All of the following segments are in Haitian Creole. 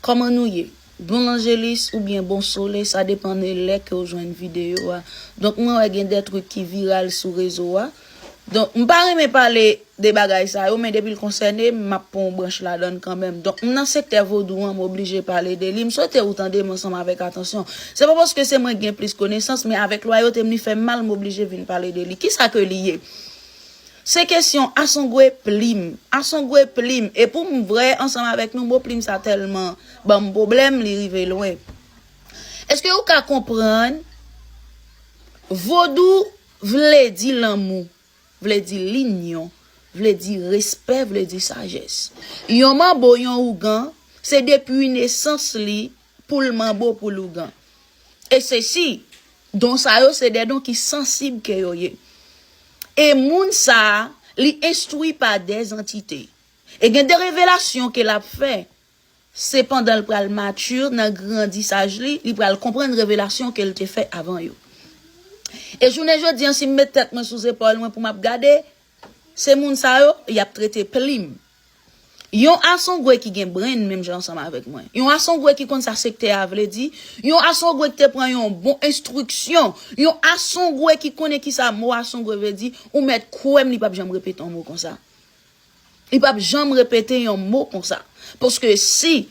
Kòman nou ye? Bon lanjelis ou byen bon sole sa depan de lè kew jwenn video a. Donk mwen wè gen de truk ki viral sou rezo a. Donk m pa renmen pale de bagay sa yo men depil konsène m map pran yon branch ladann kanmenm. Donk m nan sektè vodou an m oblije pale de li. M swete ou tande m ansanm avèk atansyon. Se pa paske se mwen k gen plis konesans men avèk lwayote m li fèm mal m oblije vin pale de li. Kisa ke li ye? Se kesyon asongwe plim. Asongwe plim. E pou m vrè ansanm avèk nou mo plim sa tèlman ban m pwoblèm li rive lwen. Èske ou ka konprann Vodou vle di lanmou, vle di linyon, vle di respè, vle di sajès. Yon manbo, yon ougan, se depi nesans li Poul manbo poul ougan. E sesi, don sa yo se de don ki sansib ke yo ye. E moun sa a, li enstwi pa de zantite. E gen de revelasyon ke l'ap fè. Se pandan l pral mature nan grandisaj li, li pral konprann revelasyon ke l te fè avan yo. E jounen jodi an si m met tèt mwen sou zepòl mwen pou m'ap gade, Se moun sa yo, y ap trete plim. Yon asongwe ki gen brenn menm jan ansanm avèk mwen. Yon asongwe ki konn sa sektè a vle di. Yon asongwe ki te pran yon bon enstriksyon. Yon asongwe ki konnen ki sa mo asongwe vle di. Ou mèt kwè m li p ap janm repete yon mo konsa. Li p ap janm repete yon mo konsa. Paske si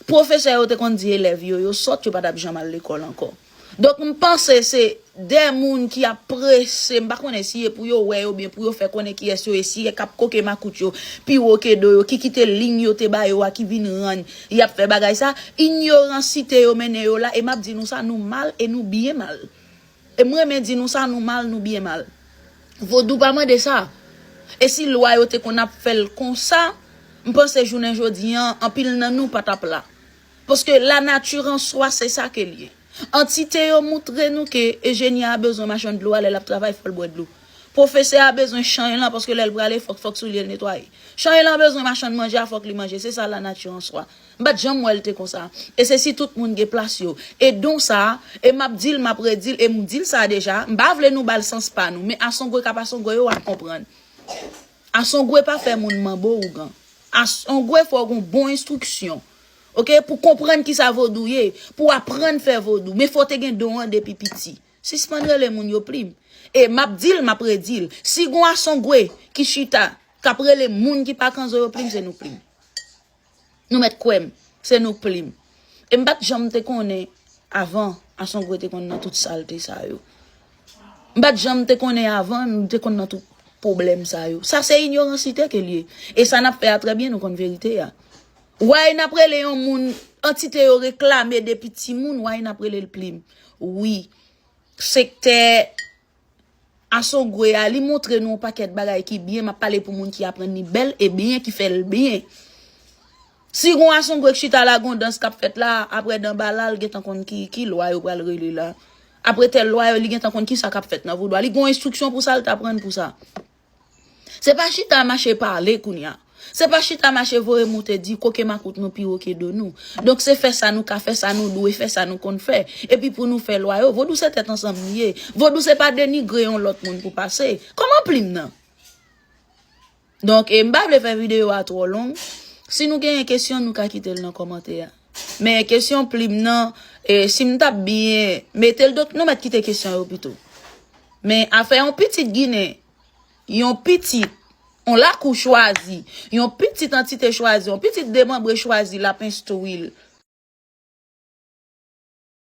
Pwofesè yo te konn di elèv yo, yo sòt, yo pa t ap janm al lekòl ankò. Donk, m panse se de moun ki ap prese, m pa konnen si e pou yo wè yo byen, pou yo fè konnen kiyès yo ye, si e k ap koke makout yo pi wo ke do yo, ki kite liy yo te ba yo a, ki vin rann y ap fè bagay sa. Inyoransite yo mennen yo la, e m ap di nou sa, nou mal e nou byen mal. E m renmen di nou sa, nou mal, nou byen mal. Vodou pa mande sa. E si lwa yo te konn ap fè l konsa, m panse jounen jodi an, anpil nan nou pa t ap la. Paske lanati an swa se sa ke l ye. Antite yo moutre nou ke enjenyè a bezwen machann dlo a lè l ap travay fò l bwè dlo. Pwofesè a bezwen chany lan paske lè l prale fòk fòk soulye l netwaye. Chany lan bezwen machann manje a fòk li manje. Se sa lanati an swa. M pat janm wè l te konsa. E se si tout moun gen plas yo. E don sa, e m ap di l, m ap redi l, e m di l sa deja, m pa vle nou ba l sans pa nou, men asongwe k ap asongwe yo w ap konprann. Asongwe pa fè moun manbo ougan. Asongwe fò w gon bon enstriksyon. Ok, pou w konprann ki sa vodou ye, pou w aprann fè vodou, men fò w te gen don an depi piti. Sispann rele moun yo plim. E m ap di l, m ap redi l, si gon asongwe ki chita, k ap rele moun ki pa kanzo yo plim, se nou plim. Nou mèt kwè m, se nou plim. E m pa t janm te konnen avan Asongwe te konn nan tout salte sa yo. M pa t janm te konnen avan nou te konn nan tout pwoblèm sa yo. Sa se inyoransite ke l ye. E sa n ap fè a trè byen nou konn verite a. Way n ap rele yon moun, antite yo reklame depi timoun, way n ap rele l plim. Wi, sektè. Asogwe a li montre nou yon pakèt bagay ki byen map pale pou moun ki aprann li bèl e byen ki fèl byen si gon asongwe k chita la gon dans kap fèt la aprè danbala l gentan konn ki ki lwa yo pral rele la aprè tèl lwa yo li gentan konn kisa kap fèt nan voudwa li gon enstriksyon pou sa l t aprann pou sa. Se pa chita mache pale kounya. Se pa chita mache voye moute di koke makout nou pi wo ke do nou. Donk se fè sa nou ka fè, sa nou dwe fè, sa nou konn fè. Epi pou nou fè lwa yo. Vodou se tèt ansanm li ye. Vodou se pa denigre yon lòt moun pou pase. Kòman plim nan? Donk e m pa vle fè videyo a twò long. Si nou genyen kesyon nou ka kite l nan kòmantè a. Men kesyon plim nan e sim tap byen metel dok nou mèt kite kesyon yo pito. Men afè yon pitit ginen, yon pitit, yon lakou chwazi, yon pitit antite chwazi, yon pitit demanbre chwazi lap enstwil.